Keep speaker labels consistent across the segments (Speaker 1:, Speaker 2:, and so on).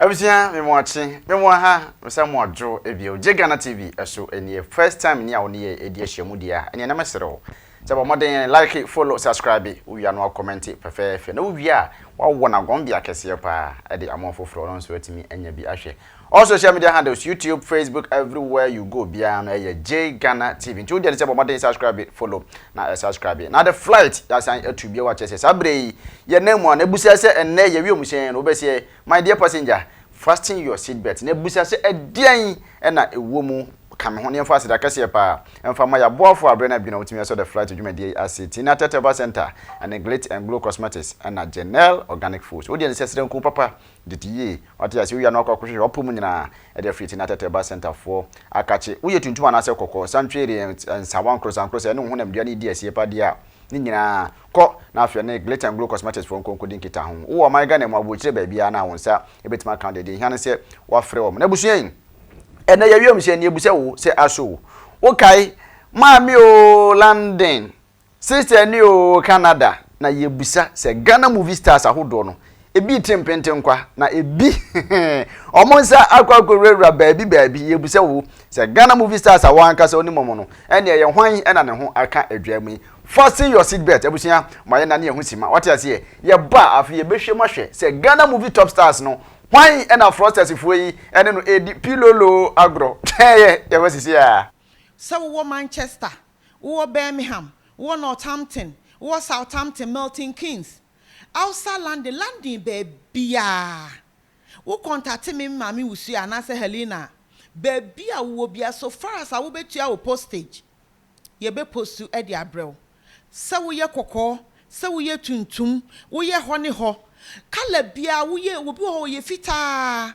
Speaker 1: Abusua me mo akye me mo aha me sa mo adwo bio gye Ghana TV so nie first time ni a wo ne yɛ edi ahyia mu deɛ a ɛneɛ na me sere wo sɛ bɔ mmɔden like follow subscribe wo wia no a kɔmɛnte fɛfɛɛfɛ na wo wie a wa wɔ na gɔn bea kɛseɛ paa ɛde ama ɔfoforɔ ɔno nso atumi anya bi ahwɛ all social media handles YouTube Facebook everywhere you go biara no ɛyɛ J Ghana TV nti wo deɛ ne sɛ bɔ mmɔden subscribe follow na ɛsa skrabe na de flight yasan atu bio a kyerɛ sɛ saa berɛ yi yɛ nan mu a na busa sɛ ɛnnɛ yɛ wiemhyɛn no wobɛseɛ my dear passenger fasten your seat belt na busa sɛ ɛdeɛn na ɛwɔ mu ka me ho na yɛmfa aseda kɛseɛ paa mfa ma yɛaboafoɔ a berɛ no adwene a wɔtumi asɔ the flight dwumadie yi ase Tina Teteva Center ɛne Glit and Glow Cosmetics ɛna Genel Organic Foods wodeɛ ne sɛ serɛnku papa Tete yie, wate aseɛ owia no akɔ akɔhwehwɛ ɔpo mu nyinaa ɛde afiri ti na tɛtɛ ba centre foɔ akakye woyɛ tuntum anaasɛ kɔkɔɔ san tweere nsawa nkorɔsa nkorɔsa ɛne wo honam dua no redi asie pa deɛ a ne nyinaa kɔ na afei ɛne glit and glow cosmetics foɔ nkonkodi nkita ho wowɔ ɔman Ghana mu aboɔkyire baabiara no a wo nsa ɛbɛtumi aka deɛ deɛ ɛhia ne sɛ wafrɛ wɔn na abusua yi ɛnɛ yɛ wiemhyɛn ni ɛbu sɛ wo sɛ aso wo wokae maame oo London Sister ni oo Canada na yɛbusa sɛ Ghana movie stars ahodoɔ no ebi te mpentenkwa na ebi wɔn nsa akɔ akɔwurawura baabi baabi yɛbusa wo sɛ Ghana movie stars a wɔn ankasa onim wɔn no ɛne ɛyɛ hwan ɛna ne ho aka adwa mu yi fasten your seat belt abusua ma yɛ na ne ɛho si ma wate aseɛ yɛba afei yɛbɛhwɛ mu ahwɛ sɛ Ghana movie top stars no hwan ɛna frosters foɔ yi ɛne no ɛdi pilolo agorɔ yɛbɛsisi a. Sɛ wowɔ
Speaker 2: Manchester wowɔ Birmingham, wowɔ Northampton, wowɔ Southampton, Milton Keynes, outside London, London baabiaa, wo kɔntate me Maame Wusu anaasɛ Helena a, baabi a wowɔ biaa, so far as a wobɛtua wo postage, yɛbɛ postu de abrɛ wo. Sɛ woyɛ kɔkɔɔ, sɛ woyɛ tuntum, woyɛ hɔ ne hɔ, colour biaa, woyɛ, obi wɔ hɔ ɔyɛ fitaa,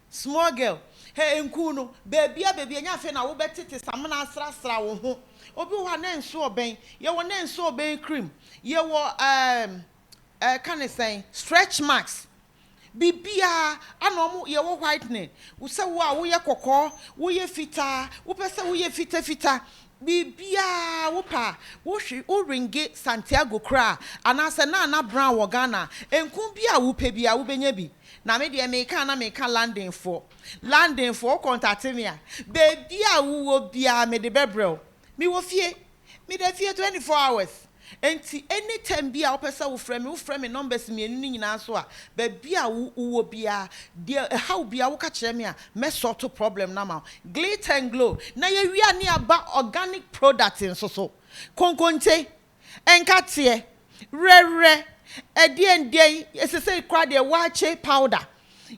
Speaker 2: Small girl, hɛ nkuu no, baabia baabia ɛnyɛ afei na wobɛtete samena asrasra wo ho. Obi wɔ hɔ a na nso ɔbɛn, yɛwɔ na nso ɔbɛn cream, yɛwɔ ɛɛm ɛɛka ne sɛn, stretch marks, biribiaa ana ɔmo, yɛwɔ whitening, sɛ wo a woyɛ kɔkɔɔ, woyɛ fitaa, wopɛ sɛ woyɛ fita fita, Biribiara a wopɛ a, wohwe, wo ringe, Santiago koraa, anaasɛ Nana Brown wɔ Ghana a, nku biara a wopɛ biara, wobɛnya bi. Na me deɛ, meka a na meka Londonfoɔ. Londonfoɔ, wo kɔntate me a, baabiara a wowɔ biara mede bɛbrɛ wo. Mewɔ fie. Meda fie twenty four hours. Enti any time biaa wopɛ sɛ wofrɛ me, wofrɛ me numbers mmienu no nyinaa so a, baabi a wo wowɔ biaa, deɛ ɛhaw biaa woka kyerɛ me a, mɛ sort problem no ama wo. Glit and Glow na yɛwia ne aba organic product nso so. Konkonte, nkateɛ, werɛwerɛ, ɛdeɛn deɛn, sesei koraa deɛ waakye powder.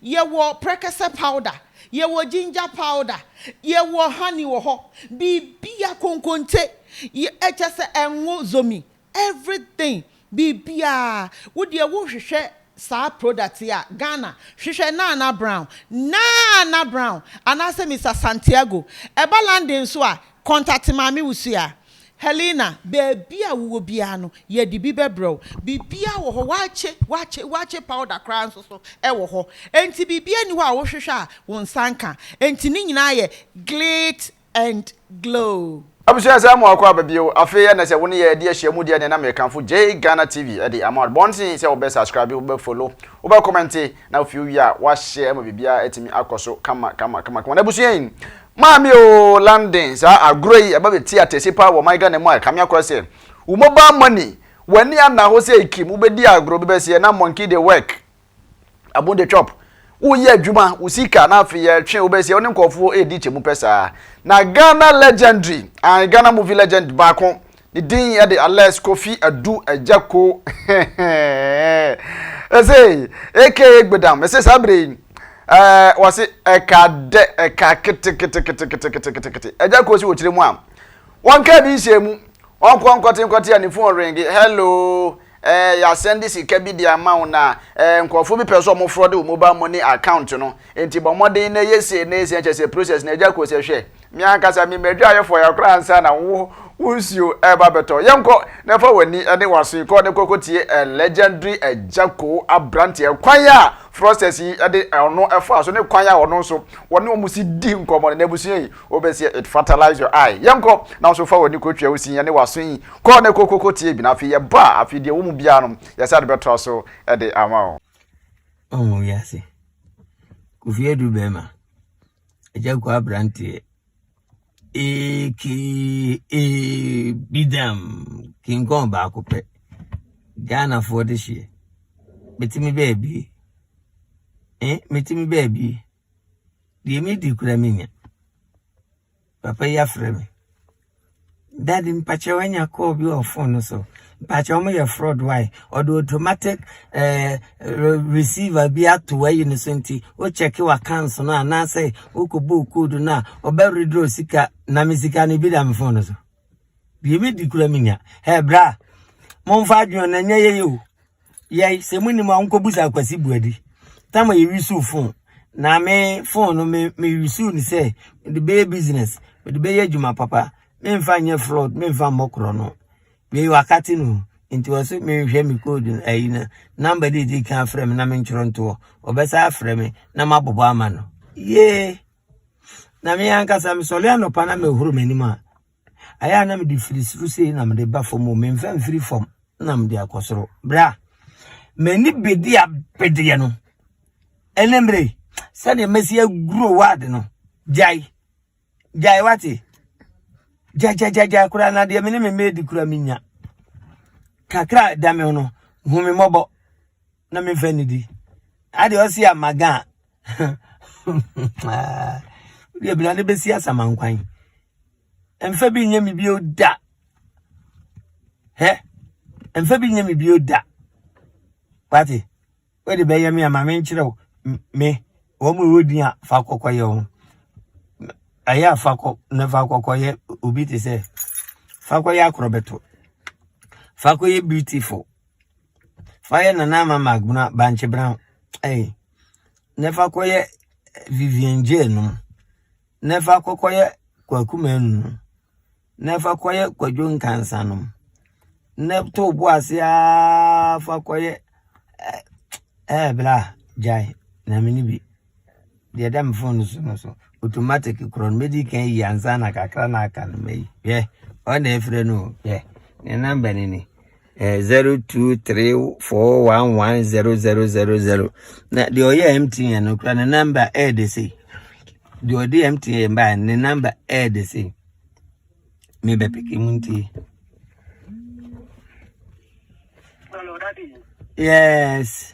Speaker 2: Yɛwɔ prɛkɛsɛ powder, yɛwɔ ginger powder, yɛwɔ honey wɔ hɔ, biribiara, konkonte, yɛ, kyerɛ sɛ ngo, zomi, everything, biribiara. Wo deɛ wohwehwɛ saa product yi a, Ghana, hwehwɛ Nana Brown, Nana Brown, anaasɛ Mister Santiago. Ɛba London nso a, contact Maame Wusu a. Helena, Baabi a wowɔ biara no, yɛde bi bɛbrɛ wo. Biribiara wɔ hɔ, wɔakye, wɔakye, wɔakye powder koraa nso so wɔ hɔ. Enti biribiara nni hɔ a wohwehwɛ a wo nsa nka. Enti ne nyinaa yɛ glit and glow. Abusua saa mu akɔ
Speaker 1: aba bio. Afei ɛnɛ sɛ wo ne yɛ ɛde ahyia mu deɛ neɛ na mekamfo Jay Ghana TV de ama wo. Bɔ mmɔden sɛ wobɛ subscribe, wobɛ follow, wobɛ comment na afei wowie a woahyɛ ma biribiara atumi akɔ so kama kama kama kama. Na abusua yi Maame oo London saa agorɔ yi ɛba bɛti atɛsi paa wɔ ɔman Ghana mu a ɛkame akora sɛ wo mobile money w'ani anna hɔ sɛ ekim wobɛdi agorɔ wobɛbɛseɛ na monkey dey work abon dey chop woyɛ adwuma wo sika na afei yɛtwe wobɛseɛ wo ne nkorɔfoɔ ɛredi kyɛmu pɛ saa na Ghana legendary ae Ghana movie legend baako Ne din yɛ de Alex Kofi Adu Agyako. Ɛsɛ aka Egbedam. Ɛsɛ saa bere yi. Ɛɛ wɔsi ɛka dɛ ɛka kete kete kete kete kete kete kete. Ɛgya kɔ si wɔ kyerɛ mu a. Wɔn kaa bi nhyɛ mu. Wɔn kɔ nkɔte nkɔte a ne fon ringi. Hello. Eh, yɛasan de sika bi de ama wo, na eh, nkurɔfo bi pɛ sɛ wɔn frɔde wo mobile money account no, enti bɔ mmɔden na yɛ sei na yɛ sei, na kyerɛ sɛ process no agya kɔ sɛ, hwɛ, me ankasa me ma adwaayɛfoɔ yɛ koraa ansa na wo wo nsuo ɛreba abɛtɔ. Yɛnkɔ na fa w'ani ne w'aso yi kɔ na kɔ kɔtie eh, legendary Agyako aberanteɛ, kwan a fraudsters yi de ɔno faa so ne kwan a ɔno nso wɔne wɔn si di nkɔmmɔ no, n'abusua yi Wobɛseɛ it fertilize your eye Yɛnkɔ nanso fa w'ani kɔ twa wo sin ne w'aso yi Kɔ na kɔkɔkɔ tie bi na afei yɛba a afei deɛ ɛwɔ mu biara no yɛsane bɛtoa so de ama wo. Ɔho
Speaker 3: wiase. Kofi Adu bɛrima. Agya kwa abranteɛ. AKA Bidam King Kong baako pɛ. Ghanafoɔ de hyeɛ. Metumi baabi. Eh, metumi baabi. Deɛ medi koraa mennya. Papa yi afrɛ me. Dad mpakyɛw anya call bi wɔ phone no so. Mpakyɛw ɔmo yɛ fraud wai? Ɔde automatic ɛɛ receiver bi ato wayi no so nti wo check wɔ account no anaasɛ wokɔ bɔɔ code no a ɔbɛ withdraw sika na me sika no ebi da me phone no so. Deɛ medi kura me nya. Hɛ bra. Momfa adwene na nyɛ yɛyɛ o. Yɛi sɛ mo nim a mo kɔbu sa akwasi buadi. Tama yɛ wisu phone. Na me phone no me me wisu ni sɛ me de bɛyɛ business. Me de bɛyɛ adwuma papa. Me nfa nyɛ fraud. Me nfa mmɔ korɔ no. Me wakati no. Nti wɔ so me nhwɛ me code no ayi no. Number de di kan afrɛ me na me ntwerɛ ntoɔ. Ɔbɛsa afrɛ me na ma bɔbɔ ama no. Yee. Na me ankasa mesɔre anɔpa na mehoro m'anim a, ayɛ a na mede firi soro sei na mede ba fam o, memfa mfiri fam na mede akɔ soro. Berɛ a m'ani bɛdi abedeɛ no, ɛne mmerɛ yi, sɛdeɛ mɛsi aguro ward no, gyae, gyae wate, gyagyagyagyagya koraa na deɛ me ne me mma di koraa menya. Kakra da me no, hu me mmɔbɔ. na me fɛ ne di ade ɔsi amaga deɛ bina ne bɛsi asamankwan mfa bi nyɛ me bio da hɛ mfa bi nyɛ me bio da wate wode bɛyɛ me ama menkyerɛ wo me wɔn mu ɛwɔ din a fa kɔkɔyɛ ho ɛyɛ a fa kɔ na fa kɔkɔyɛ obi te sɛ fa kɔyɛ akorɔbɛto fa kɔyɛ beautiful Fa yɛ Nana Ama Magbena bankye bena ɛyi na fa kɔ yɛ Vivian J nom na fa kɔ kɔ yɛ Kwaku Manu nom na fa kɔ yɛ Kwadwo Nkansa nom na to bo ase aa fa kɔ yɛ ɛɛ bla gyae na me ni bi. Deɛ ɛda me phone so no so automatic korɔ no mɛdi kan yi ansa na kakra na aka no mayi hwɛ ɔna ɛfrɛ no hwɛ ne namba no ni eh, zero two three four one one zero zero zero zero na deɛ ɔyɛ mtn no kora ne namba ɛyɛ de sei deɛ ɔde mtn baa ne namba ɛyɛ de sei mebɛ peke mu nti
Speaker 4: yes.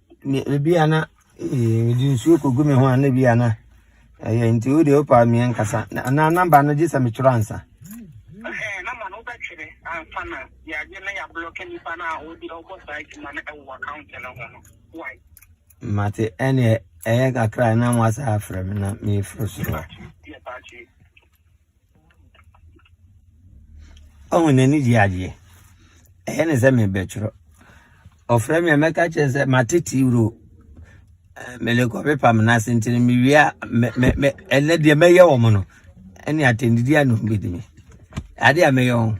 Speaker 3: Me ebi a na mede nsuo kɔgu me ho a na ebi a na ɛyɛ nti wo deɛ wopa meɛ nkasa anaa namba no gye sɛ metwerɛ ansa namba no wobɛtwerɛ ansa na yɛagye na yɛablɔke nipa no a wode ɔbɔ saa adwuma no ɛwɔ account no ho no wai mate ɛneɛ ɛyɛ kakra na mo asa afrɛ me na meforo soro Ɔhu n'ani gye adeɛ. Ɛyɛ ne sɛ merebɛtwerɛ. Ɔfrɛ me a, mɛka kyerɛ no sɛ mate tiwuro. Merekɔ pepa me nan ase nti no, mewie a, me me me ɛnɛ deɛ mɛyɛ wɔn no. Ɛne atɛndidi a na wɔbɛdi me. Adeɛ a mɛyɛ wɔn.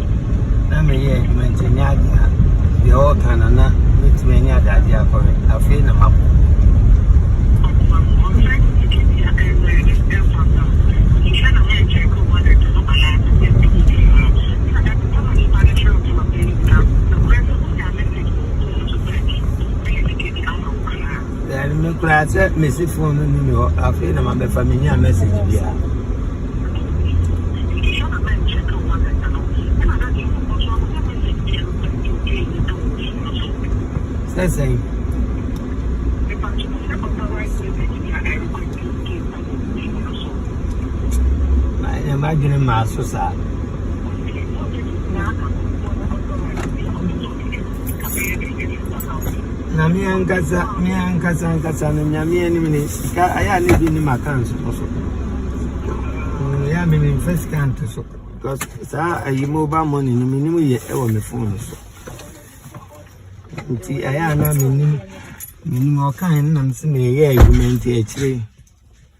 Speaker 3: na meyɛɛ adwuma nti ɛnyɛ ade a deɛ ɔreka no na mɛtumi anya adagye akɔhwɛ afei na mabɔ Then me koraa sɛ mesi phone no ni me hɔ afei na mabɛfa menya message biara Sɛ sɛn? Ɛnna m'adwene maa so saa. Na me ankasa me ankasa ankasa no nyame anim ne sika ayɛ a ne bi ne m'account no so ɛyɛ a me memfa sika nto so because saa ayi mobile money no menim yɛ ɛwɔ me phone no so nti ɛyɛ a na menim menim ɔkae no nam sɛ meyɛ adwuma nti akyire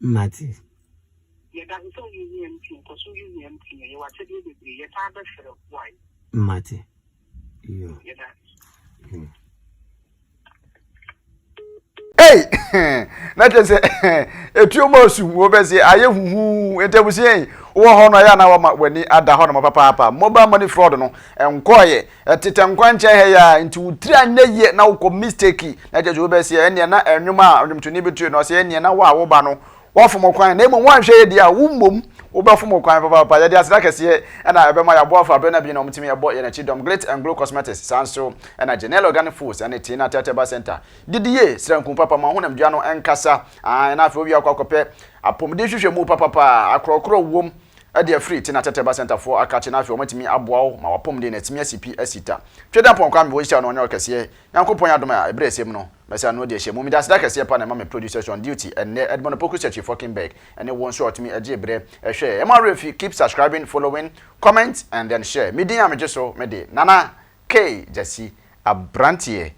Speaker 3: Mate. Yɛda ase sɛ woyɛ UM team. Kɔ so yɛ UM team. Ɛyɛ w'akyɛdeɛ bebree. Yɛsan bɛfrɛ wo a. Mate. Yo.
Speaker 1: Yɛda ase. Ei! na kyerɛ sɛ etuo mu osum wo bɛ se ayɛ huhuu ntabusia yi wɔ hɔ no ayɛ na wama w'ani ada hɔ nom papaapa mobile money fraud no nkɔɔyɛ Ɛtetɛ nkwankyɛn ha yi ara nti wo tiri anyɛ yie na wokɔ mistake na kyerɛ sɛ obi bɛseɛ ɛneɛ na ɛnwom a ɔdwomtoni bi toe no ɔseɛ ɛneɛ na wo a woba no woafom kwan na mmom woanhwɛ yɛ deɛ a wo mmom wobɛfom kwan papaapa yɛde aseda kɛseɛ ɛna ɛbɛma yɛaboafo aberɛ na bi na wɔtumi ɛbɔ yɛn akyi dɔm glit and glow cosmetics saa nso ɛna genel organic foods ɛne tina tɛtɛba center didi yie sranku papa ma honam dua no ɛnkasa ahan na afei wowie akɔ akɔpɛ apɔmuden hwehwɛ mu papapa akorɔkorɔ wom Ɛdeɛ firi ti na tɛtɛba sɛntafoɔ akakye na afei wɔatumi aboa wo ma w'apɔmuden no atumi asi pi asi ta. Twɛdi apɔn Kwame wɔ nhyira no ɔnyɛ ɔkɛseɛ Nyankopɔn yɛ adom a ɛberɛ ɛsɛ mu no mɛsan ano adi ahyɛ mu meda aseda kɛseɛ pa na ɛma me producers on duty ɛnnɛ Edmond Opoku Searchy Fockenberg ɛne wo nso a ɔtumi ɛgye berɛ ɛhwɛ ɛmo awerɛ fi keep subscribing following comment and then share me din a megye so mede Nana K Gyasi Abranteɛ